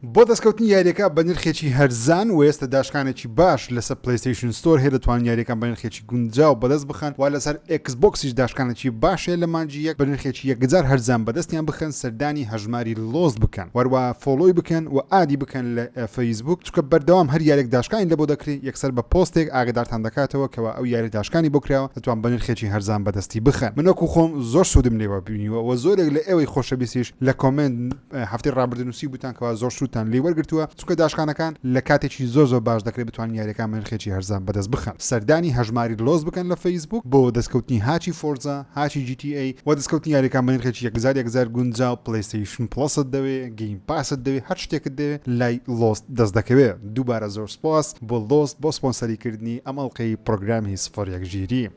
بۆ دەستکەوتنی یاریەکە بە نرخێکی هەرزان وە ئێستا داشکانێکی باش لەسەر پلەیستەیشن ستۆر هەیە دەتوانن یاریەکان بە نرخێکی گونجاو بەدەست بخەن وە لەسەر ئێکس بۆکسیش داشکانێکی باش هەیە لە مانگی یەک بە نرخێکی یەکجار هەرزان بەدەستیان بخەن سەردانی هەژماری لۆست بکەن وە هەروەها فۆڵۆی بکەن وە ئادی بکەن لە فەیسبووک چونکە بەردەوام هەر یارێک داشکانی لەبۆ دەکرێ یەکسەر بە پۆستێک ئاگەدارتان دەکاتەوە کەوا ئەو یارە داشکانی بۆ کراوە دەتوان بە نرخێکی هەرزان بەدەستی بخەن من وەکو خۆم زۆر سودم لێوە بینیوە وە زۆرێک لە ئێوەی خۆشەویستیش لە کۆمێنت هەفتەی ڕابردوو نووسیبووتان کەوا زۆر سوودتان لێی وەرگرتووە، چونکە داشکانەکان لە کاتێکی زۆر زۆر باش دەکرێت بتوانن یاریەکانمان نرخێکی هەرزان بەدەست بخەن. سەردانی هەژماری لۆس بکەن لە فەیسبووک بۆ دەستکەوتنی هاچی فۆرزا، هاچی جی تی ئەی، وە دەستکەوتنی یاریەکان بە نرخێکی یەک هەزار یەک هەزار گونجاو، پلەیستەیشن پڵەست دەوێ، گەیم پاست دەوێ، هەر شتێکت دەوێ لای لۆس دەست دەکەوێ. دووبارە زۆر سوپاس بۆ لۆس بۆ سپۆنسەری کردنی ئەم ئەڵقەی پڕۆگرامی سفر یەک ژیری.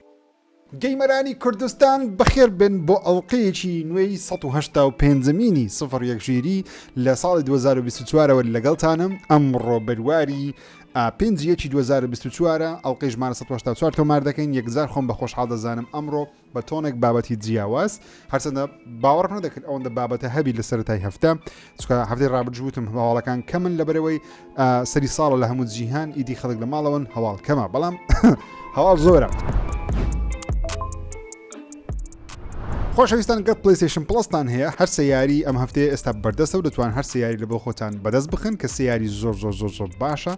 گەیمەرانی کوردستان بەخێر بێن بۆ ئەڵقەیەکی نوێی سەد و هەشتا و پێنجەمینی سفر یەک ژیری لە ساڵی دوو هەزار و بیست و چوارەوە لەگەڵتانم ئەمڕۆ بەرواری ئا پێنج یەکی دوو هەزار و بیست و چوارە ئەڵقەی ژمارە سەد و هەشتا و چوار تۆمار دەکەین یەکجار خۆم بە خۆشحاڵ دەزانم ئەمڕۆ بە تۆنێک بابەتی جیاواز هەرچەندە باوەڕ نەدەکرد ئەوەندە بابەتە هەبی لە سەرای هەفتە چکە هەفتەی ڕابجووتم هەواڵەکان کە من لەبەرەوەی سەری ساڵە لە هەموو جیهان ئیدی خەڵک لە ماڵەوەن هەواڵ کەمە بەڵام هەواڵ زۆرە. خۆشەویستان گەت پلیسیشن پلستان هەیە هەر سیاری ئەم هەفتەیە ئێستا بەردەستە و دەتوان هەر سیاری لە بۆ خۆتان بەدەست بخن کە سیاری زۆر زۆر زۆر زۆر باشە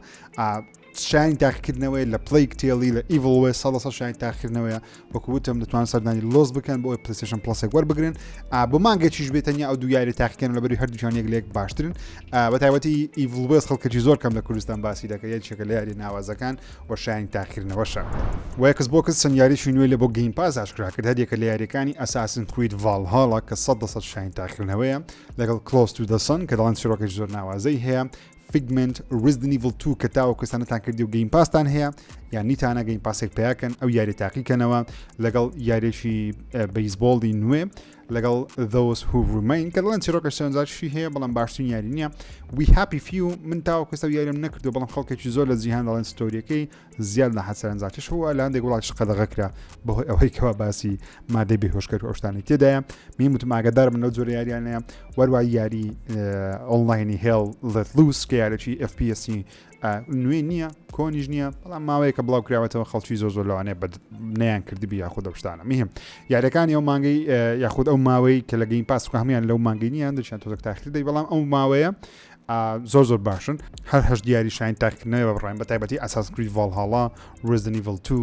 شایانی تاقیکردنەوەی لە پڵی کتێڵی لە ئیڤڵ وێ سەڵ سە شایانی تاقیکردنەوەیە وەکو وتم دەتوان سەردانی لۆز بکەن بۆ ئەوی پلیسشن پلسێک وەربگرن بۆ مانگە چیش بێتەنیا ئەو دویاری تاقیکەن لە بەری هەردووچان یەک لێک باشترن بە تایبەتی ئیڤڵ وێز خەڵکەی زۆر کەم لە کوردستان باسی دەکە یە چێکە لە یاری ناوازەکان و شایانی تاقیکردنەوەشە وەکس بۆ کەس سنیاریی نوێ لە بۆ گەین پاس ئاشکرا کرد هەریەکە لە یاریەکانی ئەساسن کریت ڤال هاڵە کە سە دەسە شایانی تاقیکردنەوەیە لەگەڵ کلۆس تو دەسن کە دەڵان سرۆکەی زۆر ناوازەی هەیە فیگمنت ریزدن ئیڤڵ تو کە تاوەکو ئێستانەتان کردی و گەیم پاستان هەیە یان نیتانە گەیم پاسێک پیاکەن ئەو یاری تاقیکەنەوە لەگەڵ یاریێکی بەیسبۆڵی نوێ لەگەڵ دەوس هومین کە دڵێن چیرۆکە شەنجاشی هەیە بەڵام باشترین یاری نییە وی هاپی فی و من تاوەکوسە یاریم نەکردو بەڵام خەڵکێکی زۆر لە جیهان دەڵێن ستۆریەکەی زیاد لە حەد سەرەنجاکێش هەبوو لە هەندێک وڵاتیش قەدەغە کرا بەهۆی ئەوەی کەوا باسی مادەی بێهۆشکەر و ئەو شتانی تێدایە میم وتم ئاگادار بن لەو جۆرە یاریانەیە وەروای یاری ئۆنلاینی هێڵ لەت لوس کە یارێکی FPS نوێ نییە کۆنیش نییە بەڵام ماوەیە کە بڵاو کراوەتەوە خەڵکی زۆ زۆر لەوانەیە بە نیان کردبی یاخود دەشتانە میهم یارەکانی ئەو مانگەی یاخود ئەو ماوەی کە لە گەین پاسکە هەمان لەو مانگەی نیان دەچیان تۆزەک تاخیر دەی بەڵام ئەو ماوەیە زۆر زۆر باشن هەر هەش دیاری شاین تاکردنەوە بە بڕێن بە تایبەتی ئەساس کریت ڤالهاڵا ڕزنی ڤڵ تو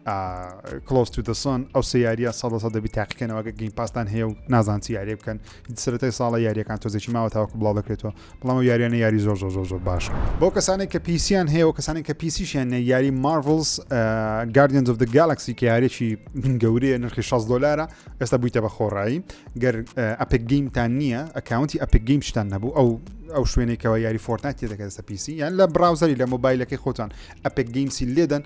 کلۆس تو دەسۆن ئەو سێ یاریە سە سە دەبی تاقیکەنەوە گە گەین پاسستان هەیە و نازان چی یاریە بکەن سرەتای ساڵە یاریەکان تۆزێکی ماوە تاوەکو بڵاو دەکرێتەوە بەڵام یاریانە یاری زۆر زۆر زۆر زۆر باش بۆ کەسانی کە پیسیان هەیە و کەسانی کە پیسیشیان نە یاری مارڤلز گاردنز of the گالکسی کە یاریی گەورەیە نرخی 6 دلارە ئێستا بوویتە بە خۆڕایی گەر ئەپک گەیمتان نییە ئەکاونتی ئەپک گەیم شتان نەبوو ئەو ئەو شوێنێکەوە یاری فۆرتنایت تێ دەکات سە پیسی یان لە براوزەری لە مۆبایلەکەی خۆتان ئەپک گەیمسی لێدەن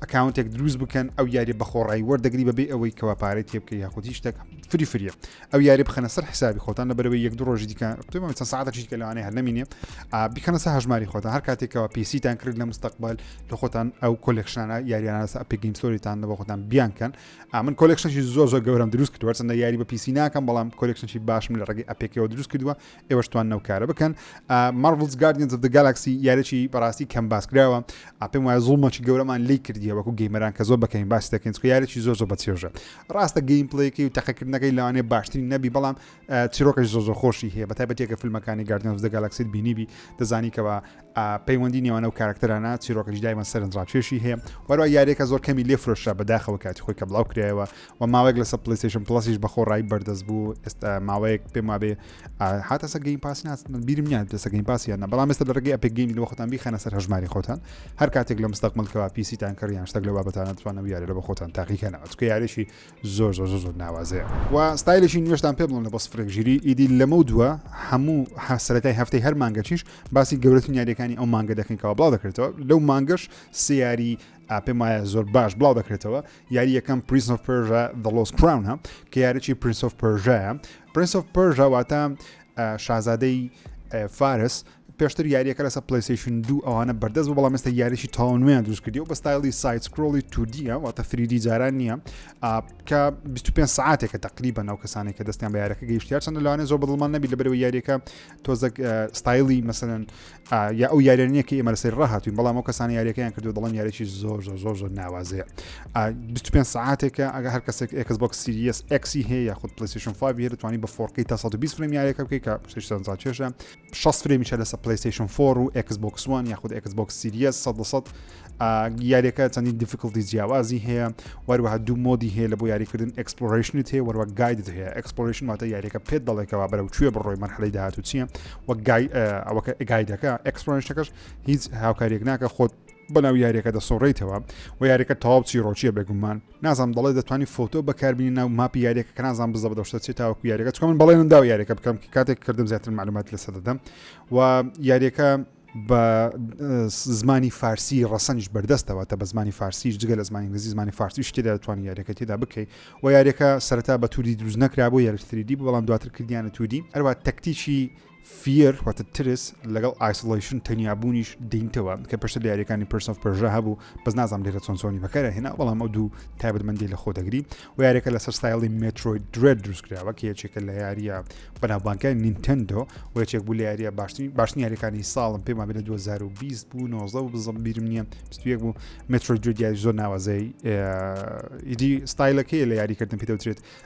ئەکاونتێک دروست بکەن ئەو یاری بەخۆڕایی وەردەگری بەبێ ئەوەی کەوا پارەی تێ بکە یاخود هیچ شتێک فری فریە ئەو یاری بخەنە سەر حسابی خۆتان لە بەرەوەی یەک دو ڕۆژی دیکە چەند ساعتەکشی کە لەوانەیە هەر نمینێ بکەنە سە هەژماری خۆتان هەر کاتێکەوە پیسیتان کرد لە مستەقبل لە خۆتان ئەو کۆلێکشانە یاریانە سە ئەپی گەیمستۆریتان لە بە خۆتان بیانکەن ئا من کۆلێکشنێکی زۆر زۆر گەورەم دروست کردوە چەندە یاری بە پیسی ناکەم بەڵام کۆلێکشنێکی باشم لە ڕێگەی ئەپێکەوە دروست کردووە ئێوەش توان نەوکارە بکەن مارڤلز گاردین زف گالاکسی یارێکی بەڕاستی کەم باس کراوە ئاپێم وایە زوڵمەکی گەورەمان لی کردیە وەکو گەیمەران کە زۆر بەکەین باس دەکەین چکە یارێکی زۆر زۆر بە چێژە ڕاستە گەیم پلەیەکەی و تەقەکردنەکەی لەوانێ باشترین نەبی بەڵام چیرۆکەش زۆر زۆر خۆشی هەیە بە تایبەتێکە فیلمەکانی گاردین زف گالاکسیت بینیبی دەزانیکەوە پەیوەندی نێوان ئەو کارکتەرانە چیرۆکەش دایمە سەرنجڕاکێشی هەیە وەروا یاریەکە زۆر کەمی لێ فرۆشرا بەداخەوە کاتی خۆی کە بڵاو کرایەوە و ماوەێک لەسەر پلیسیشن پلسیش بە خۆڕایی بەردەست بوو ئێستا ماوەیەک پێم وابێ هاتەسە گەین پاس بیرم نیان پێسە گەین پاسیانە بەڵام ئێستا لە ڕگەی ئەپێک گەین لە خۆتان بیخەنە سەر هەژماری خۆتان هەر کاتێک لە مستەقملکەوە پیسیتان کڕیان شتەک لە بابەتانە توانە یاری لە بە خۆتان تاقیکەنەوە چکە یاریشی زۆر زۆر زۆر ناوازەیە و ستایلێکی نوێشتان پێ بڵێن لە بە سفرێک ژیری ئیدی لەمە دووە هەموو حسەرەکەی هەفتەی هەر مانگەچیش باسی گەورەترین یاریەکانی ئەو مانگە دەکەینەوە بڵاو دەکرێتەوە لەو مانگەش سیاری پێم وایە زۆر باش بڵاو دەکرێتەوە یاری یەکەم پریس of پرژە دڵۆس کراونە کە یاریی پرینس of پرژەیە پرینس of پرژەواتە شازادەی فارس پێشتر یاریەکە لەسە پلیسیشن دوو ئەوانە بەردەست بوو بەڵام ئێستا یاریشی تاو نوێن دروست کردی و بە ستایلی سایت سکرۆڵی تودیە واتە فریدی جاران نییە کە 25 ساعتێکە تقریبا ناو کەسانی کە دەستیان بە یارەکە گەیشتیار چەند لەوانێ زۆر بەڵمان نەبی لەبەرەوە یاریەکە تۆزەک ستایلی مەسەن یا ئەو یاریانە کە ئێمە لەسەر ڕاهاتوین بەڵام ئەو کەسانی یاریەکەیان کردو دەڵم یاریی زۆر زۆر زۆر زۆر ناوازەیە 25 ساعتێکە ئەگە هەر کەسێک ئەکس بۆک سیریس ئەکسی هەیە یاخود پلیسیشن فاوی هەرتوانی بە فۆرقی تا 120 فرم یاریەکە بکەی کە شتان زاچێشە شەست فرێمیشە لەسە پلەیستەیشن فۆر و ئێکس بۆکس وان یاخود ئێکس بۆکس سیریەس سەد لە سەد یاریەکە چەندین دیفیکلتی جیاوازی هەیە وەروەها دوو مۆدی هەیە لە بۆ یاریکردن ئەکسپلۆرشنت هەیە وەروە گایدت هەیە ئەکسپلۆرشن واتە یاریەکە پێت دەڵێکەوە بەرەو کوێ بڕۆی مەرحەی داهات و چییە وە ئەوەکە گایدەکە ئەکسپلۆرشەکەش هیچ هاوکاریەک ناکە خۆت بەناو یاریەکە دەسۆڕیتەوە و یاریەکە تەواو چیرۆچیە بێگومان نازانم دەڵێت دەتوانی فۆتۆ بەکاربینی ناو ماپی یاریەکە کە نازان بزە بەدەشتە چێت تاوەکو یاریەکە چکە من بەڵێنم داو یاریەکە بکەم کە کاتێک کردم زیاتر معلومات لەسە دەدەم و یاریەکە بە زمانی فارسی ڕەسەنیش بەردەستەوە تە بە زمانی فارسیش جگە لە زمانی گزی زمانی فارسی شتێدا دەتوانانی یاریەکە تێدا بکەیت و یاریەکە سەرتا بە تووری دروست نەکرا بۆ یارتریدی بەڵام دواتر کردیانە توودی ئەروە تەکتیکی Fear واتە ترس لەگەڵ Isolation تەنیا بوونیش دێنیتەوە کە پێشتر لە یاریەکانی Prince of Persia هەبوو بەس نازانم لێرە چۆن چۆنی بەکارە هێنا بەڵام ئەو دوو تایبەتمەندی لە خۆ دەگری و یاریەکە لەسەر ستایڵی Metroid Dread دروستکراوە کە یەکێکە لە یاریە بەناوبانکای Nintendo و یەکێک بوو لە یاریە باشترین باشترین یاریەکانی ساڵم پێمان بێت لە 2020 بوو 19 و بزم بیرم نییە 21 بوو Metroid Dread یاری زۆر ناوازەی ئیدی ستایلەکەی لە یاریکردن پێ دەوترێت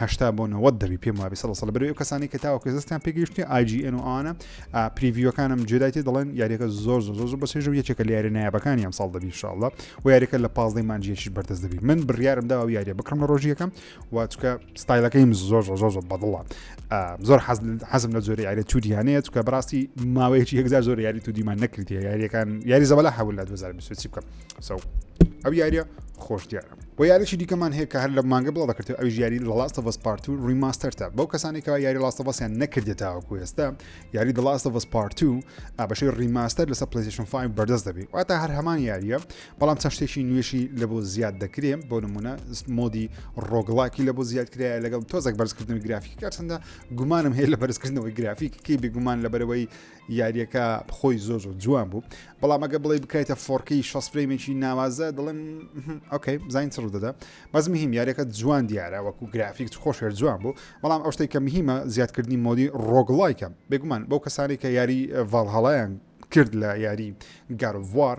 هەشتا بۆ نەوەد دەبی پێم وابی سەڵ سەڵ بەرەوەی کەسانی کە تاوەکە زستیان پێگەیشتنی ئاجیئن و ئاوانە پریڤیوەکانم جێدایتی دەڵێن یاریەکە زۆر زۆر زۆر بە سێژ و یەکێکە لە یاری نایابەکانی ئەم ساڵ دەبی شاڵە و یاریەکە لە پازدەی مانجیەکیش بەردەست دەبی من بڕیارم داوە یاریە بکڕم لە ڕۆژیەکەم و چکە ستایلەکەیم زۆر زۆر زۆر زۆر بەدڵە زۆر حەزم لە زۆری یاری تودیانەیە چکە بەڕاستی ماوەیەکی یەکزار زۆر یاری تودیمان نەکردی یاریەکان یاری زەبەلا حەول لە 2020 بکەم سەو ئەو یاریە خۆش دیارە وە یاریەکی دیکەمان هەیە کە هەر لە مانگە بڵاو دەکرێت ئەویش یاری لە لاست ئەڤەس پارت و ریماستەرتە بەو کەسانی کەوا یاری لاست ئەڤەسیان نەکردێت تاوەکو ئێستا یاری دە لاست ئەڤەس پارت و ئابەشەی ریماستەر لەسەر پلیسیشن 5 بەردەست دەبی واتە هەر هەمان یاریە بەڵام چەند شتێکی نوێشی لە بۆ زیاد دەکرێ بۆ نمونە مۆدی ڕۆگڵاکی لە بۆ زیاد کرایە لەگەڵ تۆزەک بەرزکردنەوەی گرافیکەکە چەندە گومانم هەیە لە بەرزکردنەوەی گرافیکەکەی بێگومان لەبەرەوەی یاریەکە خۆی زۆر زۆر جوان بوو بەڵام ئەگە بڵێ بکایتە فۆرکی شەس فرەیمێکی ناوازە دڵم ئۆکەی بزانین چڕ دەدا بەس مهم یاریەکە جوان دیارە وەکو گرافیک خۆشێر جوان بوو بەڵام ئەو شتێک کە مهمە زیادکردنی مۆدی ڕۆگڵایکە بێگومان بەو کەسانی کە یاری ڤالهڵیان کرد لە یاری گاروار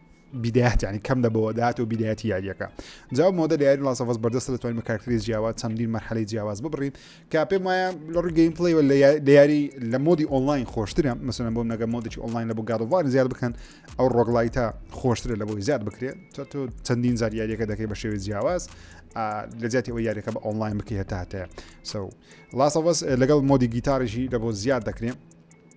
بیدایەت یعنی کەم دەبەوە داات و بیدایەتی یاریەکە جاو مۆدە لە یاری لاسەفەس بەردەست دەتوانین بە کارکتری جیاواز چەندین مەرحەلی جیاواز ببڕین کە پێم وایە لە ڕووی گەیم پلی لە یاری لە مۆدی ئۆنلاین خۆشترە مەسەن بۆم نەگە مۆدێکی ئۆنلاین لە بۆ گادوار زیاد بکەن ئەو ڕۆگلایتە خۆشترە لە بۆی زیاد بکرێت چۆ تۆ چەندین زار یاریەکە دەکەی بە شێوی جیاواز لە جیاتی ئەوە یاریەکە بە ئۆنلاین بکە هەتاتەیە سو لاسەفەس لەگەڵ مۆدی گیتارژی لە بۆ زیاد دەکرێن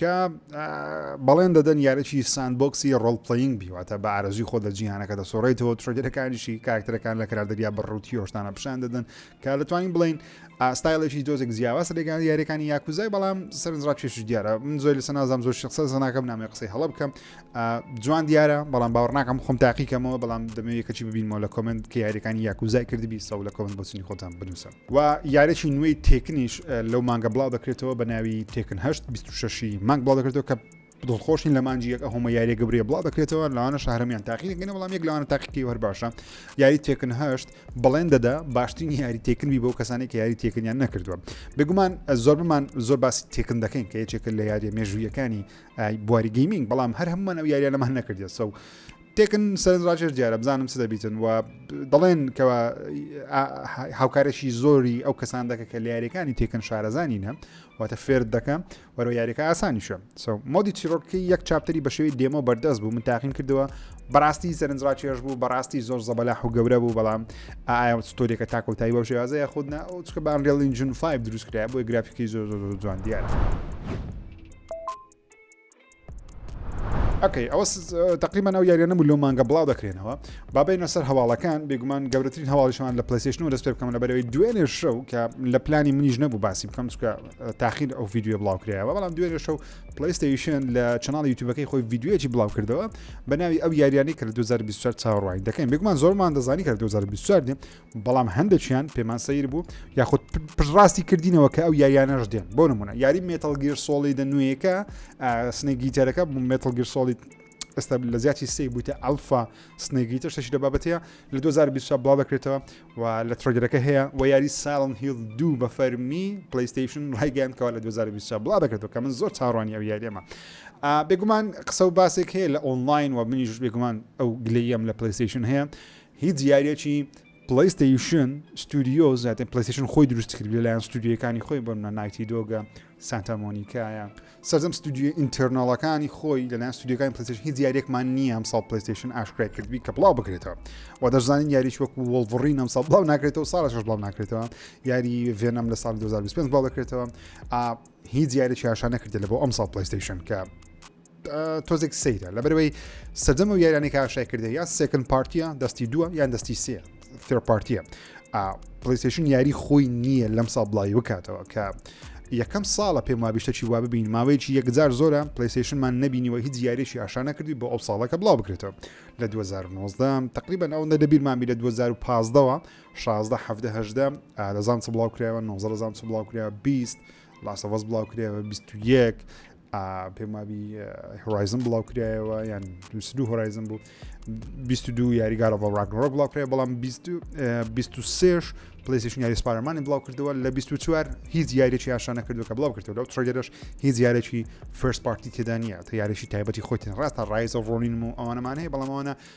کە بەڵێن دەدەن یاریی ساندبۆکسی ڕۆڵپلەیینگ بی، واتە بە ئارەزووی خۆت لە جیهانەکە دەسوڕێیتەوە، ترێلەرەکانیشی کاراکتەرەکان لە کرار دەریا بە ڕووتی هۆشدانە پیشان دەدەن، کە دەتوانین بڵێین ستایلێکی تۆزێک جیاواز لەگەڵ یاریەکانی یاکوزای بەڵام سەرنجڕا کێشش دیارە من زۆر لەسە نازام زۆر شخصە زناکەم نامی قسەی هەڵە بکەم جوان دیارە بەڵام باوەڕ ناکەم خۆم تاقیکەمەوە بەڵام دەمەوێت کەچی ببینمەوە لە کۆمنت کە یاریەکانی یاکوزای کردبی سەو لە کۆمنت بۆچنی خۆتان بنووسن. و یاریەکی نوێی تێکنیش لەو مانگە بڵاو دەکرێتەوە بە ناوی تێکن هەشت 26 مانگ بڵاو دەکرێتەوە کە دڵخۆشین لە مانجی یەک ئەهۆمە یاریە گەورەیە بڵاو دەکرێتەوە لاوانە شارمیان تاقیگەنە بەڵام یەک لەوانە تاقیکی هەر باشە یاری تێکن هەشت بڵێن دەدا باشترین یاری تێکنبی بۆ کەسانی کە یاری تێکنیان نەکردووە بگومان زۆر بمان زۆر باسی تێکن دەکەین کە یەکێکە لە یاریە مێژوویەکانی بواری گەیمنگ بەڵام هەر هەمومان ئەو یاریە لەمان نەکردێت سە تێکن سەرنج ڕاکێش دیارە بزانم چ دەبیتن و دەڵێن کەوا هاوکارێکی زۆری ئەو کەسان دەکە کە لە یاریەکانی تێکن شارەزانی نە واتە فێر دەکەم وەرە یاریەکە ئاسانیشە سو مۆدی چیرۆکی یەک چاپتەری بە شێوی دێمە بەردەست بوو من تاقیم کردەوە بەڕاستی سەرنج ڕاکێش بوو بەڕاستی زۆر زەبەلا و گەورە بوو بەڵام ئایا ستۆریەکە تاکۆتایی بەو شێوازەیە خودنا ئەو چکە بان ڕێڵین جون 5 دروستکرای بۆی گرافیکی زۆر زۆر جوان دیارە. ئەکەی ئەوە تقریبان ئەو یاریانە و لۆ مانگە بڵاو دەکرێنەوە بابینە سەر هەواڵەکان بێگومان گەورەترین هەواڵیشمان لە پلسیشن و دەست پێ بکەم لە بەرەوەی دوێنێ شەو کە لە پلانی منیش نەبوو باسی بکەم چکە تاخیر ئەو یددیو بڵاو کرایەوە بەڵام دوێنێ شەو پلیستەیشن لە چناڵ یوتوبەکەی خۆی یددیوەکی بڵاو کردەوە بە ناوی ئەو یاریانی کە لە 2024 چاوەڕوانی دەکەین بێگومان زۆرمان دەزانی کە 2024 بەڵام هەندێکیان پێمان سەیر بوو یاخود پشڕاستی کردینەوە کە ئەو یاریانەش دێن بۆ نمونە یاری مێتەڵگیر سۆڵی دە نوێیەکە سنێگیتەرەکە مێتەڵگیر سۆڵی ئێستا لە زیاتی سی بوویتە ئەلفا سنێگی تر شەشی لە بابەتەیە لە 2020 بڵاو دەکرێتەوە و لە ترۆگرەکە هەیە و یاری ساڵن هیڵ دوو بە فەرمی پلیستیشن ڕایگەیان کەوا لە 2020 بڵا دەکرێتەوە کە من زۆر چاڕوانی ئەو یاریەمە بێگومان قسە و باسێک هەیە لە ئۆنلاین و منیش بێگومان ئەو گلەیەم لە پلیستیشن هەیە هیچ یاریەکی پلەیستەیشن ستودیۆز یاتن پلەیستەیشن خۆی دروستی کرد لەلایەن ستودیەکانی خۆی بۆ منە نایتی دۆگە سانتا مۆنیکایە سەرجەم ستودیۆ ئینتەرناڵەکانی خۆی لەلایەن ستودیەکانی پلەیستەیشن هیچ یاریەکمان نییە ئەم ساڵ پلەیستەیشن ئاشکرای کردبی کە بڵاو بکرێتەوە و دەشزانین یاریش وەکو وڵڤڕین ئەم ساڵ بڵاو ناکرێتەوە ساڵش بڵاو ناکرێتەوە یاری ڤێنەم لە ساڵ 2025 بڵاو دەکرێتەوە هیچ یاریی هاشا نەکردێت لە بۆ ئەم ساڵ پلەیستەیشن کە تۆزێک سەیرە لەبەرەوەی سەدەم و یارانی کاشای کردە یا سێکن پارتیە دەستی دووە یان دەستی سێ فێر پارتیە پلیسشن یاری خۆی نییە لەم ساڵ بڵاوی بکاتەوە کە یەکەم ساڵە پێم وابیشتەکی وا ببین ماوەیەکی یەکجار زۆرە پلیسشنمان نبینیەوە هیچ یاریشی ئاشانە کردی بۆ ئەو ساڵەکە بڵاو بکرێتەوە لە 2019 تقریبا ئەو نە دەبیرمامی لە 2015ەوە 16 دەزان چ بڵاو کرایەوە 19 دەزان چ بڵاو کرا 20 لاسەوەز بڵاو کرایەوە 21 پێم وابی هۆرایزن بڵاو کرایەوە یان دوو هۆرایزن بوو 22 یاری گارە بە ڕاگنۆک بڵاو کرای بەڵام 23 پلیسیشن یاری سپارەمانی بڵاو کردەوە لە 24 هیچ یاریی یاشانە کردو کە بڵاو کردەوە لەو تڕگەرش هیچ یارێکی فرست پارتی تێدانە تا یاریی تایبەتی خۆتین ڕاستە ڕایز ڕۆنین و ئەوانەمانەیە بەڵامانە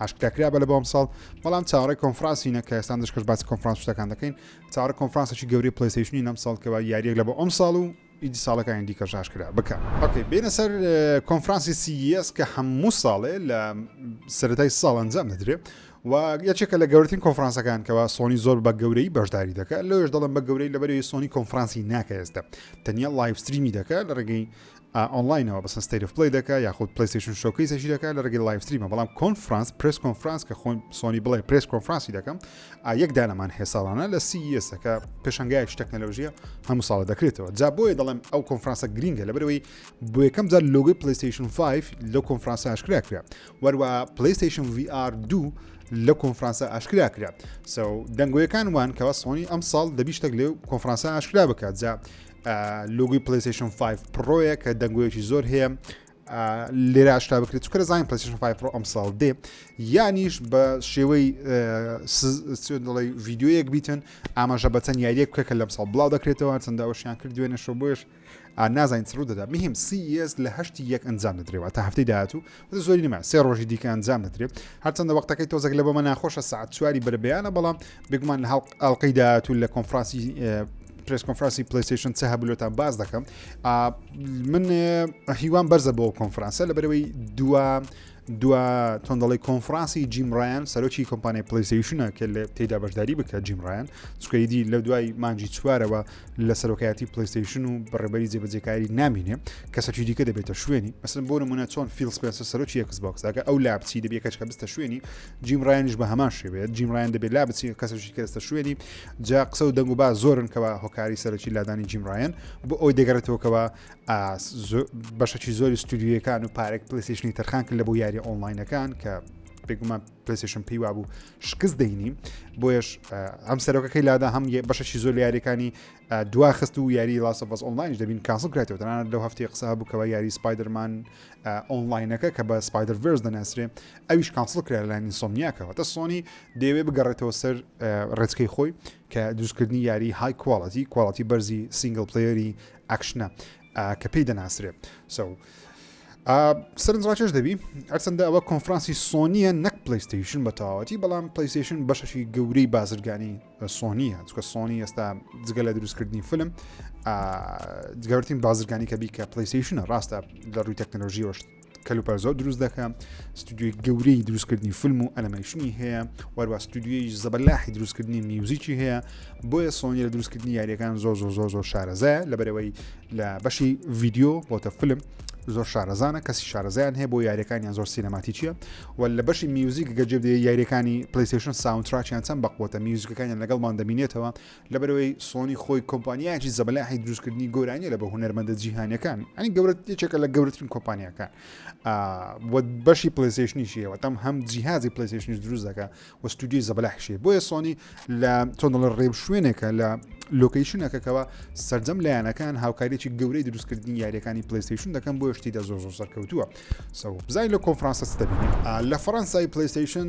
ئاشکرا کرا بە لە بۆم ساڵ بەڵام چاڕی کۆنفرانسی نەکە ئێستان دەشکەش باسی کۆنفرانس شتەکان دەکەین چاڕە کۆنفرانسێکی گەوری پلیسیشنی نەم ساڵکەوە یاریەک لە بۆ ئەم ساڵ و ئیدی ساڵەکانی دیکە ژاش کرا بکە ئۆکەی بینە سەر کۆنفرانسی سیس کە هەموو ساڵێ لە سەتای ساڵ ئەنجام دەدرێت و یەکێکە لە گەورترین کۆنفرانسەکان کەەوە سۆنی زۆر بە گەورەی بەشداری دەکە لەش دەڵم بە گەورەی لەبەری سۆنی کۆنفرانسی ناکە ئێستا تەنیا لایفستریمی دەکە لە ڕێگەی ئا ئۆنڵاینەوە بەسن ستەیت ئۆف پلەی دەکا یاخود پلەیستەیشن شۆکەیسەشی دەکا لە رێگەی لایڤ ستریمە بەڵام کۆنفرانس پرێس کۆنفرانس کە خۆی سۆنی بڵێ پرێس کۆنفرانسی دەکەم ئا یەک دانەمان هەیە ساڵانە لە سی ئێسە کە پێشەنگایەکی تەکنەلۆژیە هەموو ساڵە دەکرێتەوە جا بۆیە دەڵێم ئەو کۆنفرانسە گرینگە لەبەرەوەی بۆ یەکەم جار لۆگەی پلەیستەیشن 5 لەو کۆنفرانسە ئاشکرا کرا وەروە پلەیستەیشن VR دوو لە کۆنفرانسە ئاشکرا کرا سەو دەنگۆیەکان وان کەوا سۆنی ئەم ساڵ دەبی شتەک لێو کۆنفرانسە ئاشکرا بکات جا لوگوی پلیسیشن 5 پرۆیە کە دەنگۆیەکی زۆر هەیە لێرە ئاشتا بکرێت چکە زانین پلیسیشن 5 پرۆ ئەمساڵ دێ یانیش بە شێوەی دڵی ڤیددیوەیەک بیتن ئاماژە بە چەند یاریەک بکە کە لەم ساڵ بڵاو دەکرێتەوە چەنداوەشیان کرد دوێنێ شۆ بۆش نازانین سڕوو دەدا مهم سیS لە هەشتی یەک ئەنجام دەدرێەوە تا هەفتەی داهاتوو وتم زۆری نەما سێ ڕۆژی دیکە ئەنجام دەدرێت هەرچەندە وەختەکەی تۆزەک لە بۆمە ناخۆشە سعات چواری بەرەبیانە بەڵام بێگومان لە هەڵق ئەڵلقەی داهاتوو لە کۆنفراسی پرس کۆنفراسی پلیسیشن چه هەبلۆتان باز دەکەم من هیوان بەرزە بۆ کۆنفرانسە لە بەرەوەی دووە دووە تۆندەڵی کۆنفرانسی جیمڕایان سەرۆکی کۆمپانیای پلیسیشنە کە لە تێدا بەشداری بکە جیمڕایان چکەیدی لە دوای مانجی چوارەوە لە سەرۆکایەتی پلیستیشن و بەڕێبەری جێبەجێکاری نامینێ کەسەکی دیکە دەبێتە شوێنی مەسن بۆ نمونە چۆن فیل سپێنسە سەرۆکی یەکس بۆکساکە ئەو لا بچی دەبێت کەچکە بستە شوێنی جیم ڕایانش بە هەمان شێوێت جیم ڕایان دەبێت لا بچی کەسەکی کەستە شوێنی جا قسە و دەنگ و با زۆرن کەەوە هۆکاری سەرەکی لادانی جیم ڕایەن بۆ ئەوی دەگەڕێتەوەکەوە بەشەکی زۆری ستودیویەکان و پارێک پلیسیشنی تەرخان کرد لە بۆ یاری ئۆنلاینەکان کە بێگومان پلیسشن پێی وابوو شکست دەینی بۆیش ئەم سەرۆکەکەی لادا هەم بەشەشی زۆر یاریەکانی دوا خست و یاری لاسە بەس ئۆنلاین دەبین کاسڵ کرێتەوە تەنان لەو هەفتی قسە بکەوە یاری سپایدرمان ئۆنلاینەکە کە بە سپایدر ڤرس دەناسرێ ئەویش کاسڵ کرا لە نیسۆمیاکەەوە تە سۆنی دەیەوێ بگەڕێتەوە سەر ڕێچکەی خۆی کە دروستکردنی یاری های کوواڵەتی کوواڵەتی بەرزی سینگل پلیری ئەکشنە ئا کە پێی دەناسرێ سەو ئا سەرنج ڕاکێش دەبی هەرچەندە ئەوە کۆنفرانسی سۆنیە نەک پلیستیشن بە تەواوەتی بەڵام پلیستیشن بەشەشی گەورەی بازرگانی سۆنیە چکە سۆنی ئێستا جگە لە دروستکردنی فلم جگەورتین بازرگانی کە بی کە پلیستیشنە ڕاستە لە ڕووی تەکنەلۆژیەوەش کەلوپەل زۆر دروست دەکە ستودیوی گەورەی دروستکردنی فیلم و ئەلمەیشنی هەیە وەروە ستودیوی زەبەلاحی دروستکردنی میوزیکی هەیە بۆیە سۆنی لە دروستکردنی یاریەکان زۆر زۆر زۆر زۆر شارەزایە لە بەرەوەی لە بەشی ڤیددیو بۆتە فیلم زۆر شارەزانە کەسی شارەزیان هەیە بۆ یاریەکانیان زۆر سینەماتیچیە و لە بەشی میوزیک گەجێ یاریەکانی پلیسشن ساونتراچیان چەند بەقوتە میوزیکەکانیان لەگەڵمان دەبینێتەوە لەبەرئەوەی سۆنی خۆی کۆمپانیایەکی زەبەلاحی دروستکردنی گۆرانیە لە بە هونەرمەندە جیهانەکان ئەنی گەورە یەکێکە لە گەورترین کۆمپانیەکان بەشی پلیسیشنیشیەوە تەم هەم جیهازی پلیسیشنیش دروست دەکە و ستودیوی زەبەلاحشی بۆیە سۆنی لە تۆندڵ ڕێب شوێنێکە لە لۆکیشنەکەکەەوە سرجەم لایەنەکان هاوکاریی گەورەی دروستکردنی یاریەکانی پلیسیشن دەکەم بۆ شتی دە زۆ زۆ سەرکەوتووە سەو بزای لە کۆنفرانسە دەبین لە فەرەنسای پلیسیشن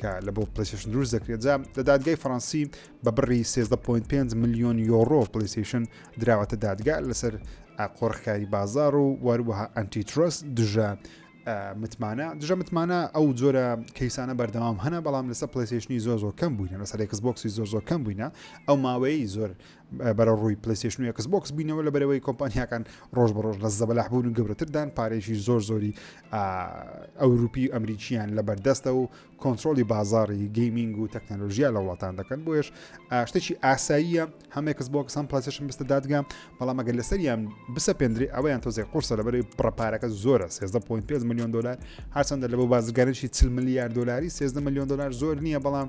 کە لە بۆ پلەیستەیشن دروست دەکرێت جا لە دادگای فەڕەنسی بە بڕی 13.5 ملیۆن یۆڕۆ پلەیستەیشن دراوەتە دادگا لەسەر قۆرخکاری بازار و وەروەها ئەنتی ترۆس دژە متمانە دژە متمانە ئەو جۆرە کەیسانە بەردەوام هەنە بەڵام لەسەر پلسیشنی زۆر زۆر کەم بووینە لەسەر ئەکس بۆکسی زۆر زۆر کەم بووینە ئەو ماوەیە زۆر بەرە ڕووی پلەیستێشن و ئێکس بۆکس بووینەوە لە بەرەوەی کۆمپانیاکان ڕۆژ بە ڕۆژ لە زەبەلاح بوون و گەورەتردان پارێکی زۆر زۆری ئەوروپی و ئەمریکیان لە بەردەستە و کۆنتترۆلی بازاری گەیمینگ و تەکنەلۆژیا لە وڵاتان دەکەن بۆیش شتێکی ئاساییە هەمێکس بۆکس هەم پلەسشن بستە دادگا بەڵام ئەگەر لەسەریان بسە پێندری ئەویان تۆزێک قرسە لە بەری پڕپارەکە زۆرە 13.5 میلیۆن دلار هەرچەندە لە بۆ بازرگانێکی 40 میلیارد دلاری 13 میلیۆن دلار زۆر نییە بەڵام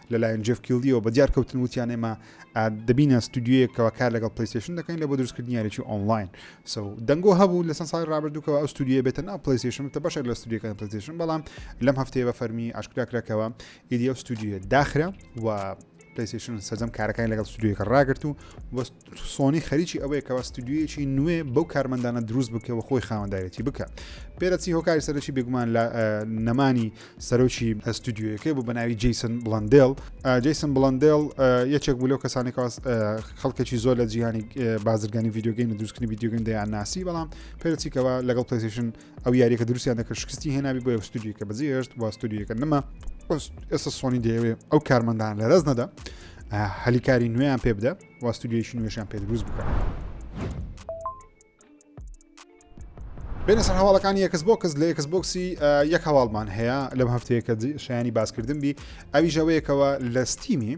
لەلایەن جێف کیڵدییەوە بە دیار کەوتن وتیان ئێمە دەبینە ستودیویەک کەەوە کار لەگەڵ پلیستێشن دەکەین لە بۆ دروستکردنی یاریی ئۆنلاین سو دەنگۆ هەبوو لە چەند ساڵی ڕابردووکەوە ئەو ستودیوە بێتە ناو پلیستێشن بتە بەشێک لە ستودیوەکانی پلیستێشن بەڵام لەم هەفتەیە بە فەرمی ئاشکراکراکەوە ئیدی ئەو ستودیوە داخرا و پلیستێشن سەرجەم کارەکانی لەگەڵ ستودیوەکە ڕاگرت و وەست سۆنی خەریکی ئەوەیە کەوا ستودیویەکی نوێ بەو کارمەندانە دروست بکە و خۆی خاوەندارێتی بکە پێرەچی هۆکاری سەرەکی بێگومان لە نەمانی سەرۆکی ئەستودیوەکەی بوو بەناوی جیسن بڵندل جیسن بڵندل یەکێک بوو لەو کەسانی کەواز خەڵکێکی زۆر لە جیهانی بازرگانی یددیوگەین دروستکردنی یددیوگەن دەیان ناسی بەڵام پێرەچیکەوە لەگەڵ پلیسیشن ئەو یاریەکە دروستیان دەکرد شکستی هێنابی بۆ ستودیوکە بەجێ هێشت و ستودیوەکە نەما ئێستا سۆنی دەیەوێ ئەو کارمەندان لە ڕز نەدا هەلیکاری نوێیان پێ بدە و ستودیویشی نوێشیان پێ دروست بکە بێنە سەر هەواڵەکانی یەکس بۆکس لە یەکس بۆکسی یەک هەواڵمان هەیە لەم هەفتەیەکە شایانی باسکردن بی ئەوی ژەوەیەکەوە لە ستیمی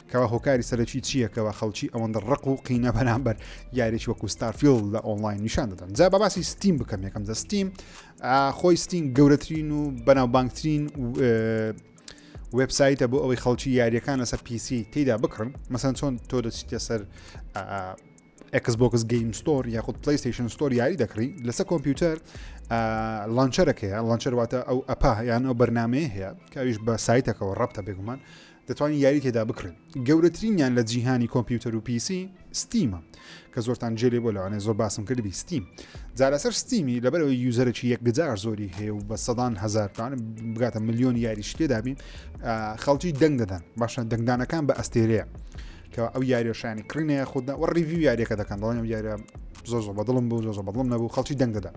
کەوا هۆکاری سەرەکی چییە کەوا خەڵکی ئەوەندە ڕق و قینە بەرامبەر یاریێکی وەکو ستارفیل لە ئۆنلاین نیشان دەدەن جا بەباسی ستیم بکەم یەکەم جە ستیم خۆی ستین گەورەترین و بەناوبانگترین وبسایتە بۆ ئەوەی خەڵکی یاریەکان لەسەر پیسی تێدا بکڕن مەسەن چۆن تۆ دەچیتە سەر ئەکسبکس گەیم ستۆر یاخود پلیستیشن ستۆر یاری دەکڕی لەسەر کۆمپیوتەر لانچەرەکەیە لانچەر واتە ئەو ئەپا یان ئەو بەرنمەیە هەیە کاویش بە سایتەکەەوە ڕەبتە بێگومان دەتوانین یاری تێدا بکڕین گەورەترینیان لە جیهانی کۆمپیوتەر و پیسی ستیمە کە زۆرتان جێلێ بۆ لەوانێ زۆر باسم کردبی ستیم جارەسەر ستیمی لەبەرەوەی یوزەرێکی یەکجار زۆری هەیە و بە سەدان هزار پان بگاتە میلیۆن یاریش تێدابین خەڵکی دەنگ دەدەن باشە دەنگدانەکان بە ئەستێرەیە کە ئەو یاریەشانی کڕینەیە خوددا وە ڕیوی یاریەکە دەکەن دەڵێن یاریە زۆر زۆر بەدڵم بوو زۆر بەدڵم نەبوو خەڵکی دەنگ دەدا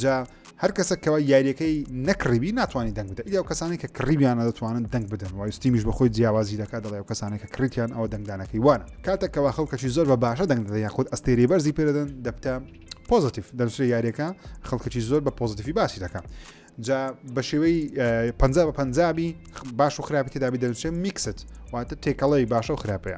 جا هەر کەسە کەوا یاریەکەی نەکڕیبی ناتوانانی دەنگ بدە ئیدی ئەو کەسانی کە کڕیبیانە دەتوانن دەنگ بدەن وای ستیمیش بە خۆی جیاوازی دەکات دەڵێ ئەو کەسانی کە کڕیتیان ئەوە دەنگدانەکەی وانە کاتە کەوا خەڵکەشی زۆر بە باشە دەنگ دەدە یاخود ئەستێری بەرزی پێدەدەن دەبتە پۆزتیف دەنووسێ یاریەکە خەڵکەی زۆر بە پۆزتیفی باسی دەکات جا بە شێوەی پ بە پنجابی باش و خراپی تێدابی دەنووسێ میکست واتە تێکەڵەی باشە و خراپەیە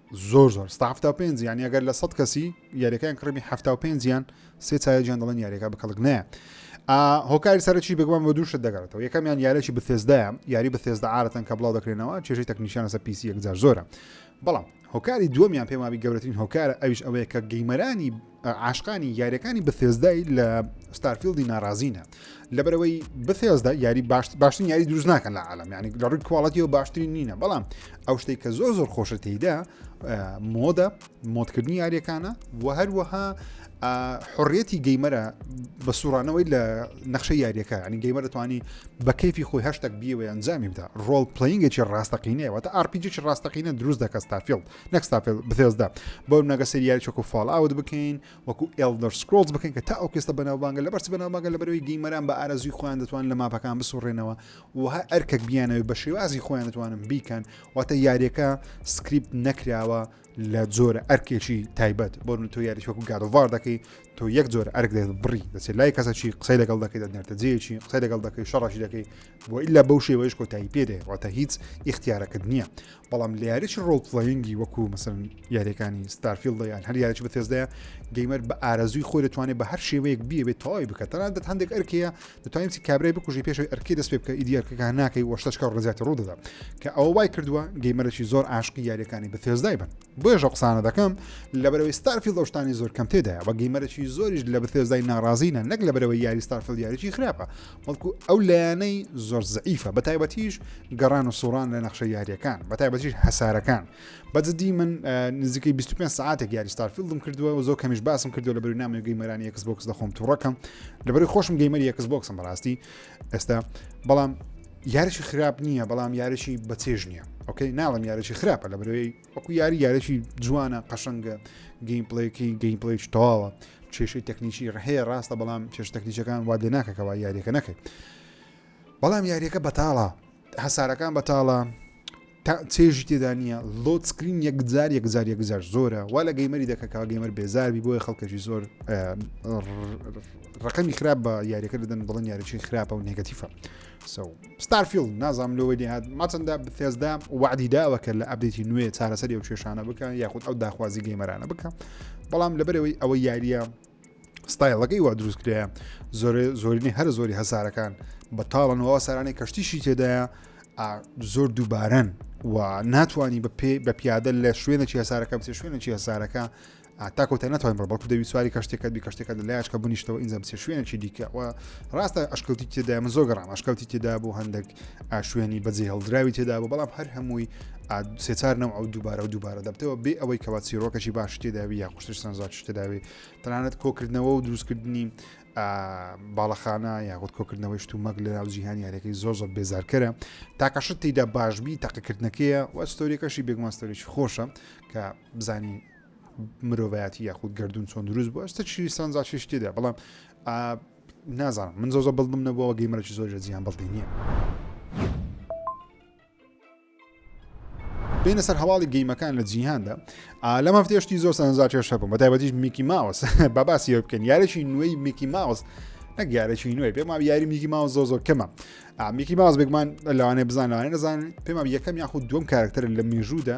زۆر زۆر ستا حەفتا و پێنج یانی ئەگەر لە سەد کەسی یاریەکەیان کڕمی حەفتا و پێنجیان سێ چایەجیان دەڵێن یاریەکە بکەڵک نایە هۆکاری سەرچی بگوان بە دووشت دەگەڕێتەوە یەکەمیان یارێکی بثێزدایە یاری بثێزدا عادەتەن کە بڵاو دەکرێنەوە چێژی تەکنیشانە سە پیسی یەکجار زۆرە بەڵام هۆکاری دووەمیان پێمابی گەورەترین هۆکارە ئەویش ئەوەیە کە گەیمەرانی عاشقانی یاریەکانی بەثێزدای لە ستارفیلدی ناڕازینە لەبەرەوەی بەثێزدا یاری باشترین یاری دروست ناکەن لە عالم ینی لە ڕووی کوواڵەتی و باشترین نینە بەڵام ئەو شتێک کە زۆر زۆر خۆشە تێیدا مۆدە مۆدکردنی یاریەکانە و هەروەها حڕێتی گەیمەرە بە سوڕانەوەی لە نەخشە یاریەکە ینی گەیمەرە توانی بە کەفی خۆی هەشتێک بیەوەی ئەنجامی بدا ڕۆڵ پلینگێکی ڕاستەقینەیەوە تا ئارپیجێکی ڕاستەقینە دروست دەکە ستافیلد نەکستافل بزێزدا بۆ نەگە سریال چۆکو فال ئاوت بکەین وەکو ئلدەر سکرۆز بکەین کە تا ئەو کێستە بەناوبانگە لە بەرچ بەناوبانگە لە بەرەوەی گەیمەران بە ئارەزوی خۆیان دەتوان لە ماپەکان بسوڕێنەوە و هەر ئەرکەک بیانەوەی بە شێوازی خۆیان دەتوانن بیکەن واتە یاریەکە سکریپت نەکراوە لە جۆرە ئەرکێکی تایبەت بۆ تۆ یاری وەکو گادوار دەکەی تۆ یەک جۆر ئەرک دێت بڕی دەچێت لای کەسەکی قسەی لەگەڵ دەکەیت دەنێتە جێکی قسەی لەگەڵ دەکەی شەڕەشی دەکەی وەئیلا بەو شێوەیەش کۆتایی پێ دێ واتە هیچ ئیختیارەکەت نییە بەڵام لە یاریی ڕۆڵ پلەینگی وەکو مەسن یاریەکانی ستارفیل دەیان هەر یاریی بەتێزدایە گەیمەر بە ئارەزوی خۆی دەتوانێت بە هەر شێوەیەک بیەوێت تەواوی بکە تەنان دەت هەندێک ئەرکەیە دەتوانیتی کابرای بکوژی پێشەوەی ئەرکی دەست پێ بکە ئیدیارکەکە ناکەی وەشتەشکە ڕزیاتی ڕوودەدا کە ئەو وای کردووە گەیمەرەی زۆر عاشقی یاریەکانی بەتێزدای بن بۆێژە قسانە دەکەم لە بەرەوەی ستارفیل دەشتانی زۆر کەم تێدایە بە گەیمەرەی زۆریش لە بەتێزدای ناڕازینە نەک لە بەرەوەی یاری ستارفیل یاریی خراپە بەڵکو ئەو لایەنەی زۆر زعیفە بە تایبەتیش گەڕان و سوڕان لە نەخشە یاریەکان بە تایبەتیش هەسارەکان بەجددی من نزیکەی 25 ساعتێک یاری ستارفیلدم کردووە و زۆر کەمیش باسم کردو لە بەری نامی گەیمەرانی یەکس بۆکس دەخۆم توڕەکەم لەبەری خۆشم گەیمەری یەکس بۆکسم بەڕاستی ئێستا بەڵام یاریشی خراپ نییە بەڵام یاریشی بەچێژ نییە ئۆکەی ناڵم یاریشی خراپە لە برەوەی وەکو یاری یارێکی جوانە قەشەنگە گەیم پڵێکی گەیم پڵێکی تەواوە کێشەی تەکنیکی ڕهەیە ڕاستە بەڵام کێش تەکنیکەکان وا لێ ناکەکەەوە یاریەکە نەکەێت بەڵام یاریەکە بەتاڵە هەسارەکان بەتاڵە چێژی تێدا نییە لۆت سکرین یەکجار یەکجار یەکجار زۆرە وا لە گەیمەری دەکەکە گەیمەر بێزاربی بۆیە خەڵکەشی زۆر ڕقەمی خراپ بە یاریەکە دەدەن بڵن یاریی خراپە و نگەتیفە سو ستارفیلد نازام لۆ وەی هاات ماچەندە بتێزدا وعدی داوە کە لە ئەبدێتی نوێ چارەسەری و کێشانە بکە یاخود ئەو داخوازی گەیمەرانە بکە بەڵام لەبەرەوەی ئەوە یاریە ستایلەکەی وا دروست کرێ زۆر زۆرینی هەر زۆری هەسارەکان بەتاڵنەوە سارانی کەشتیشی تێدایە زۆر دووبارەن و ناتوانانی بە پێ بە پیادە لە شوێنە چێسارەکە بچێ شوێنە چێسارەکە هەتا کۆتای ناتوانین بڕۆ بەڵکو دەوی سواری کەشتێکەت بی کەشتێکە لە لایچکە بنیشتەوە ئینجا بچێ شوێنێکی دیکە و ڕاستە ئەشکەوتی تێدا من زۆر گەڕام ئەشکەوتی تێدا بۆ هەندێک ئاشوێنی بەجێ هەڵدراوی تێدا بۆ بەڵام هەر هەمووی سێچار نەوە ئەو دووبارە و دووبارە دەبتەوە بێ ئەوەی کەوا چیرۆکەشی باش تێداوی یا خوشتش سەنجاش تێداوی تەنانەت کۆکردنەوە و دروستکردنی باڵەخانە یاخود کۆکردنەوەی شتومەک لە ناو جیهانی یارەکەی زۆر زۆر بێزارکەرە تاکەشت تیدا باشبی تاقیکردنەکەیە وە ستۆریەکەشی بێگوماستۆریش خۆشە کە بزانین مرۆڤایەتی یاخود گردون چۆن دروست بووە شتە چی سانزا چی شتێدا بەڵام نازانم من زۆزە بڵدم نەبووەوە گەیمەرەی زۆر لە جیان بڵدی نییە. بینە سەر هەواڵی گەیمەکان لە جیهاندا لە مەفتێشتی زۆر سانزا چێش هەبووم بە تایبەتیش میکی ماوس بە باسیەوە بکەن یارێکی نوێی میکی ماوس. نەگەارێکی نوێ پێم وام یاری میکی ماوە زۆ زۆر کەمە میکی ماز بێگمان لەوانێ بزان لەوانێ نەزان پێم یەکەم یاخود دوم کارکتەر لە مێژوودا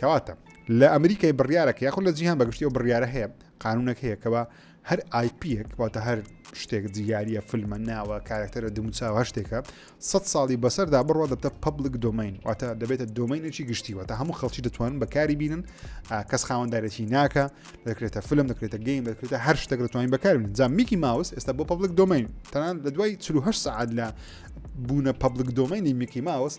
کەواتە لە ئەمریکای بڕیارەکە یاخود لە جیهان بەگشتی ئەو بڕیارە هەیە قانونەک هەیە کەەوە هەر آیپیەک واتە هەر شتێک جیاریە فلمە ناوە کارکتەرە دموچاوە شتێکە سە ساڵی بەسەردا بڕوە دەبتە پبلک دۆمین واتە دەبێتە دۆمینێکی گشتیوە تا هەموو خەڵکی دەتوان بەکاری بینن کەس خاوەندارێکی ناکە دەکرێتە فلم دەکرێتە گەین دەکرێتە هەر شتێک دەتوانین بەکاربن جا میکی ماوس ئێستا بۆ پبلک دۆمین تەنان لە دوای 4 سعات لە بوونە پبلک دۆمینی میکی ماوس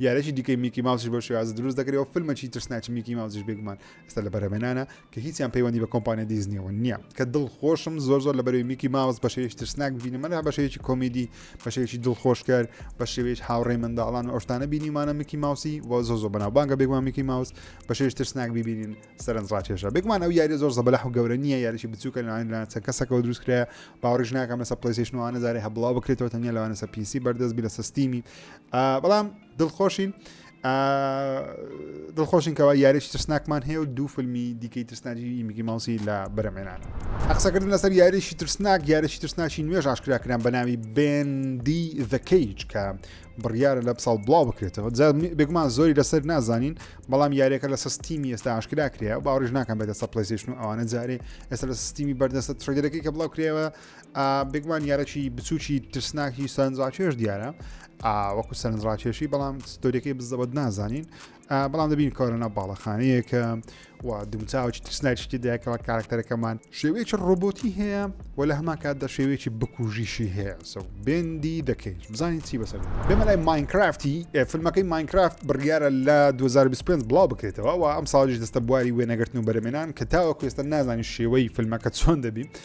یارێکی دیکەی میکی ماوسیش بەو شێوازە دروست دەکرێت و فیلمەکی ترسناکی میکی ماوسیش بێگومان ئێستا لە بەرهەمێنانە کە هیچیان پەیوەندی بە کۆمپانیا دیزنیەوە نییە کە دڵ خۆشم زۆر زۆر لە بەرەوەی میکی ماوس بە شێوەیەکی ترسناک ببینمەلا بە شێوەیەکی کۆمیدی بە شێوەیەکی دڵخۆشکەر بە شێوەیەش هاوڕێی منداڵان و ئەوشتانە بینیمانە میکی ماوسی و زۆ زۆ بەناوبانگە بێگومان میکی ماوس بە شێوەیەکی ترسناک ببینین سەرنج ڕاکێشە بێگومان ئەو یاری زۆر زەبەلەح و گەورە نییە یاریی بچووکە لەوان لە چەند کەسەکەەوە دروست کرایە باوەڕیش ناکەم لەسە پلیسیشنوانە زارێ هەبڵاو بکرێتەوە تەنیا لەوانەسە پیسی بەردەست بی لەسە ستیمی بەڵام دڵخۆشین دڵخۆشین کەەوە یاریش ترسناکمان هەیە و دوو فیلمی دیکەی ترسناجی میگی ماوسی لە بەرەمێنان قسەکردن لەسەر یاریشی ترسناک یاریشی ترسناچی نوێژ ئاشکراکران بە ناوی بندی ذکەیج کە بڕیارە لە ساڵ بڵاو بکرێتەوە بێگومان زۆری لەسەر نازانین بەڵام یاریەکە لە سستیمی ئێستا ئاشکرا کرێ باڕژ ناکەم بێتە سە پلیسیشن و ئەوانە جارێ ئێستا لە سستیمی بەردەستە ترێدەکەی کە بڵاو کرێەوە بێگومان یارەکی بچووکی ترسناکی سەرنجڕاکێش دیارە وەکو سەرنجڕاکێشی بەڵام ستۆریەکەی بزەبەت نازانین بەڵام دەبین کارەنە باڵەخانەیەکە و دومچاوکی ترسناکیشتی دایکەوە کارکتەرەکەمان شێوەیەکی ڕۆبۆتی هەیە و لە هەمان کات دە شێوەیەکی بکوژیشی هەیە سە بێندی دەکەیت بزانین چی بەسەر بێمە لای ماینکرافتی فیلمەکەی ماینکرافت بڕیارە لە 2025 بڵاو بکرێتەوە و ئەم ساڵیش دەستە بواری وێنەگرتن و بەرەمێنان کە تاوە کوێستە نازانی شێوەی فیلمەکە چۆن دەبی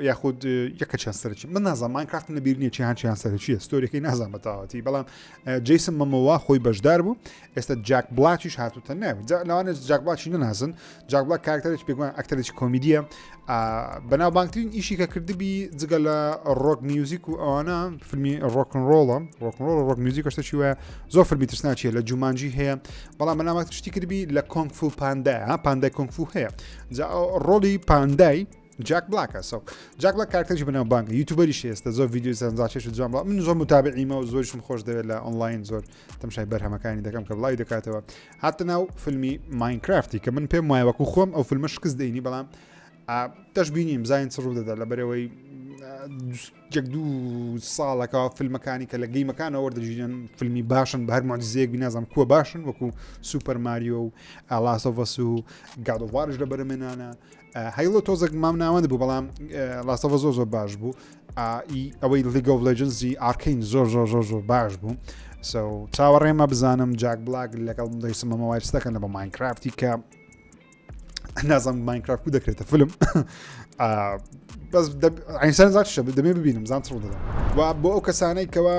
یاخود یەکە چەند سەرچی من نازان ماینکرافتم لەبییر نیە چیان چیان سەرچیە ستۆریەکەی نازان بەتەواتی بەڵام جیسم مەمەوە خۆی بەشدار بوو ئێستا جاک بلاتیش هاتوتە ناوی لەوانە جاک بلاشی نەناسن جاک بڵا کارکتەرێک پێگوان ئەکتەرێکی کۆمیدیە بەناوبانگترین ئیشی کە کردبی جگە لە ڕۆک میوزیک و ئەوانە فیلمی ڕۆکن ڕۆڵە ڕۆکن ڕۆڵ ڕۆک میوزیک کەشتە چی وایە زۆر فەرمی ترسناچیە لە جومانجی هەیە بەڵام بەناوات شتی کردبی لە کۆنگفو پاندای پاندای کۆنگفو هەیە جا ڕۆڵی پاندای جاک بلاکە سەو جاک بلاک کارکتەرێکی بەناوبانگە یوتیوبەریش ئێستا زۆر ڤیدیۆی سەرنجڕاکێش و جوان بڵاو من زۆر متابعیمە و زۆرشم خۆش دەوێت لە ئۆنلاین زۆر تەمشای بەرهەمەکانی دەکەم کە بڵاوی دەکاتەوە هاتە ناو فیلمی ماینکرافتی کە من پێم وایە وەکو خۆم ئەو فیلمە شکست دەینی بەڵام دەشببینیم زین چ ڕوو دەدا لە بەرەوەی جەک دوو ساڵەکە فیلمەکانی کە لە گەیمەکانەوە وەردەژیرن فیلمی باشن بە هەر مۆجززیەک بینازم کووە باشن وەکو سوپەر ماریۆ و ئالاسۆڤەس و گادۆڤارش لە بەرەمێنانە هەیڵۆ تۆزەک مام ناوەند بوو بەڵام لاستەوە زۆر زۆر باش بوو ئەوەی لیگۆ لەجنزی ئارکین زۆر زۆر زۆر زۆر باش بوو چاوەڕێمە بزانم جاک بلاک لەگەڵ دەیسمەمە وایستەکەن لە بە ماینکرافتی کە نازم ماینکرافت و دەکرێتە فلم بەس ئەینسان زاکشە دەمێ ببینم زان ڕوو دەدەم و بۆ ئەو کەسانەی کەەوە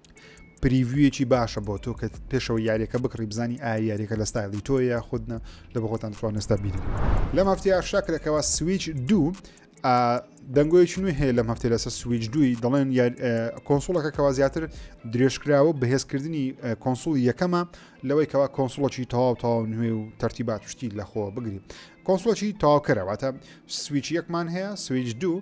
پریڤویەکی باشە بۆ تۆ کە پێشەوە یاریەکە بکڕی بزانی ئایا یاریەکە لە ستایلی تۆ یا خودنە لە بەخۆتان توان نستا بیر لەم هەفتی ئاشتا کرەکەەوە سویچ دوو دەنگۆیەکی نوێ هەیە لەم هەفتێ لەسەر سویچ دووی دەڵێن کۆنسوڵەکە کەوا زیاتر درێژکراوە بەهێزکردنی کۆنسول یەکەمە لەوەی کەوا کۆنسوڵەکی تەواو تاو نوێ و تەرتیبات شتی لەخۆ بگری کۆنسوڵەکی تاوکەرەواتە سویچ یەکمان هەیە سویچ دوو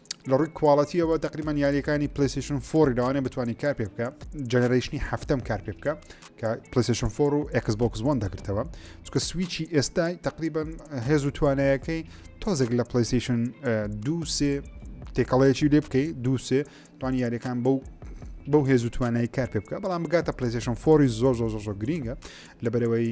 لە ڕووی کوواڵەتیەوە تقریبان یاریەکانی پلیسیشن فۆری لەوانێ بتوانانی کار پێ بکە جەنەرەیشنی هەفتم کار پێ بکە کە پلیسیشن فۆر و ئەکس بۆکس وان دەگرتەوە چکە سویچی ئێستای تقریبان هێز و توانایەکەی تۆزێک لە پلیسیشن دووسێ تێکەڵەیەکی لێ بکەی دووسێ توان یاریەکان بەو بەو هێز و توانای کار پێ بکە بەڵام بگاتە پلیسیشن فۆری زۆر زۆر زۆر گرینگە لە بەرەوەی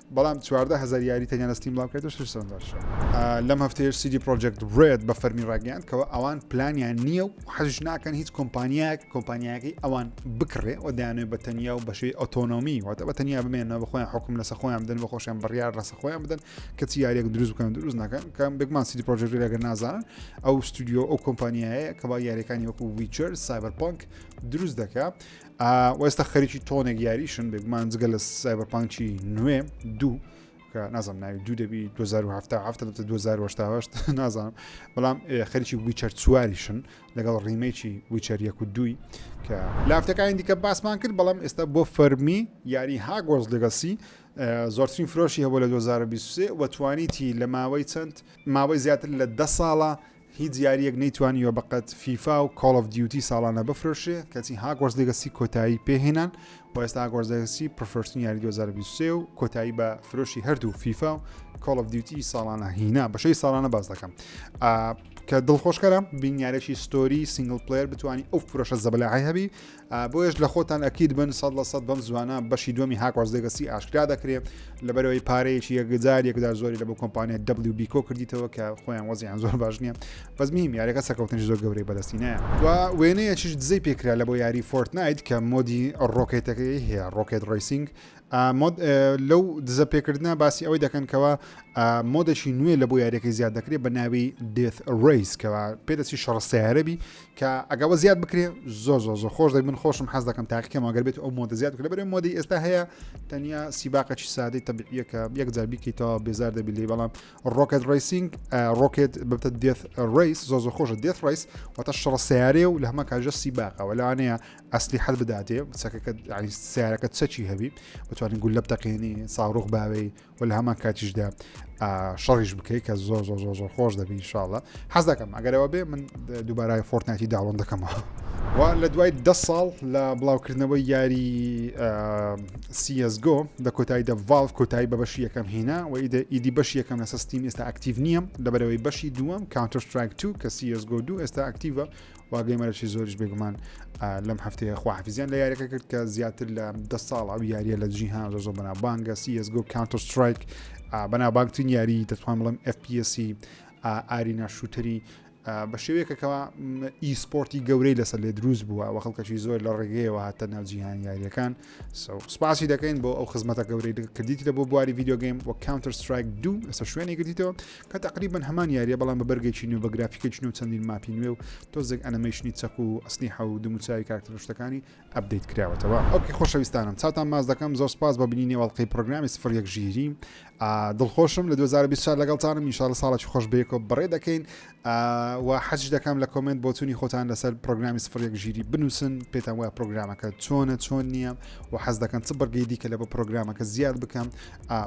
بەڵام چواردە هەزار یاری تەنیا لە ستیم بڵاوکرێتەوە شەش سەرنج داشە. لەم هەفتەیەش سیدی پرۆجێکت ڕێد بە فەرمی ڕاگەیاند کەەوە ئەوان پلانیان نییە و حەزش ناکەن هیچ کۆمپانیایەک کۆمپانیایەکەی ئەوان بکڕێ و دەیانێت بە تەنیا و بەشێوی ئۆتۆنۆمی واتە بە تەنیا بمێنەوە بە خۆیان حکم لەسە خۆیان بدەن بە خۆشیان بڕیار لەسە خۆیان بدەن کەچی یاریەک دروست بکەن دروست ناکەن کەم بێگمان سیدی پرۆجێکت ڕێگە نازانن ئەو ستودیۆ ئەو کۆمپانیایە کە با یاریەکانی وەکو ویچەر سایبەرپانک دروست دەکە وێستا خەریکی تۆنێک یاریشن بێگومان جگە لە سایبەرپانکی نوێ دوو کە نازم ناوی دوو دەبی 201970 نازانم بەڵام خەریکی ویچەر چواریشن لەگەڵ ڕیمەیکی ویچەر یەک و دووی کە لافتەکانی دیکە باسمان کرد بەڵام ئێستا بۆ فەرمی یاری هاگۆز لەگەسی زۆرترین فرۆشی هەبوو لە 2023 وەتوانیتی لە ماوەی چەند ماوەی زیاتر لە ده ساڵە هیچ یاریەک نەیتوانیوە بەقەد فیفا و کۆڵ ئۆف دیوتی ساڵانە بفرۆشێ کەچی هاگۆرس لیگەسی کۆتایی پێهێنان و ئێستا هاگۆرس لیگەسی پرفرۆشتنی یاری 2023 و کۆتایی بە فرۆشی هەردوو فیفا و کۆڵ ئۆف دیوتی ساڵانە هینا بەشەی ساڵانە باس دەکەم کە دڵخۆشکەرە بینیارێکی ستۆری سنگل پلیر بتانی ئەو فرۆشە زەبلای هەبی بۆیەش لە خۆتان ئەکید بن سەد لە سەد بەم زوانە بەشی دووەمی هاکۆرس لێگەسی ئاشکرا دەکرێ لەبەرەوەی پارەیەکی یەکجار یەکجار زۆری لە بۆ کۆمپانیا دبلی بیکۆ کردیتەوە کە خۆیان وەزیان زۆر باش نییە بەس میم یاریەکە سەکەوتنی زۆر گەورەی بەدەستینە و وێنەیەکیش دزەی پێکرا لە بۆ یاری فۆرتنایت کە مۆدی ڕۆکێتەکەی هەیە ڕۆکێت ڕیسینگ لەو دزە پێکردە باسی ئەوەی دەکەن کەەوە مۆدەشی نوێ لە بۆ یاریەکەی زیاد دەکرێت بە ناوی دێت ڕیس کەەوە پێدەسی شەڕ سیارەبی کە ئەگە وە زیاد بکرێ زۆ زۆ زۆ خۆش دەی من خۆشم حەز دەکەم تاقیکەم ئەگەر بێت ئەو مۆدە زیاد بکرێ بەرێ مۆدی ئێستا هەیە تەنیا سیباقەی سادەی تەبیعیەکە یەک جار بیکەیتەوە بێزار دەبی لێ بەڵام ڕۆکت ڕیسینگ ڕۆکت ببتە دێت ڕیس زۆ زۆ خۆشە دێت ڕیس واتە شڕە سیارێ و لە هەمە کاژە سیباقەوە لەوانەیە ئەسلی حەت بداتێ چەکەکە سیارەکە چەکی هەبی بتوانین گول لە بتەقێنی ساڕۆخ باوەی و لە هەمان کاتیشدا شەڕیش بکەیت کە زۆر زۆر زۆر زۆر خۆش دەبی شاڵە حەز دەکەم ئەگەرەوە بێ من دووبارای فۆرتناتی داڵۆن دەکەمەوە و لە دوای ده ساڵ لە بڵاوکردنەوەی یاری سیSGۆ دە کۆتایی دە ڤالڤ کۆتایی بە بەشی یەکەم هینا و ئیدی بەشی یەکەم لە سستیم ئێستا ئەکتیو نییە لەبەرەوەی بەشی دووەم کاونتەرستراک تو کە سیSGۆ دوو ئێستا ئەکتیڤە وا گەیمەرەشی زۆریش بێگومان لەم هەفتەیە خواحفیزیان لە یاریەکە کرد کە زیاتر لە دە ساڵ ئەو یاریە لە دژی هان زۆ بەنا بانگە سیسگو کانتۆ سترایک بەنا بانگترین یاری دەتوان بڵم FPSی ئارینا شووتری بە شێوەیەکەکەەوە ئیسپۆرتی گەورەی لەسەر لێ دروست بووە و خەڵکەشی زۆر لە ڕێگەیەوە هاتە ناوجییهان یاریەکان سوپاسی دەکەین بۆ ئەو خزمەتە گەورەی کردیتە بۆ بواری ڤیددیوگەیم و کاونتەر سترایک دوو ئێستا شوێنی گرتیتەوە کە تقریبن هەمان یاریە بەڵام بە بەرگێکی نوێ بە گرافیکێکی نوێ چەندین ماپی نوێ و تۆزێک ئەنەمەیشنی چەک و ئەسنی حە و دموچوی کارکتەرشتەکانی ئەبدەیت کراوەتەوە ئەوکی خۆشەویستانم چاوتان ماز دەکەم زۆر سپاس بە بینینی وڵقی پرۆگرامی سفر یەک ژیری دڵخۆشم لە دوو هەزار و بیست و چوار لەگەڵتانم ان شاءاللە ساڵێکی خۆش بەیەکەوە بەڕێ دەکەین و حەزش دەکەم لە کۆمنت بۆچوونی خۆتان لەسەر پرۆگرامی سفر یەک ژیری بنووسن پێتان وایە پرۆگرامەکە چۆنە چۆن نییە و حەز دەکەن چ بڕگەی دیکە لە بە پرۆگرامەکە زیاد بکەم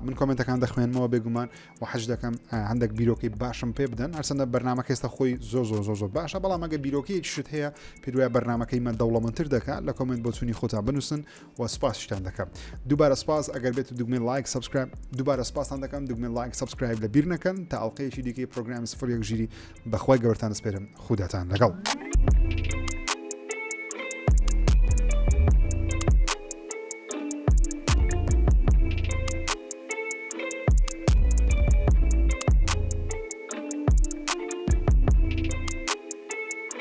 من کۆمنتەکان دەخوێنمەوە بێگومان و حەز دەکەم هەندێک بیرۆکەی باشم پێ بدەن هەرچەندە بەرنمە کەێستا خۆی زۆر زۆر زۆر زۆر باشە بەڵام ئەگە بیرۆکەیەک شت هەیە پێوای بەرنمەکەی مە دەوڵەمەتر دەکات لە کۆمنت بۆچوونی خۆتان بنووسن وە سپاس شتان دەکەم دووبارە سپاس ئەگەر بێت دوگمەی لایک سبسکرایب دووبارە سپاسان دەکەم دوگمەی لایک سبسکرایب لە بیر نەکەن تا ئەڵلقەیەکی دیکەی پرۆگرام سفر یەک ژیری بەخوای گەورتان سپێرم خوداتان لەگەڵ.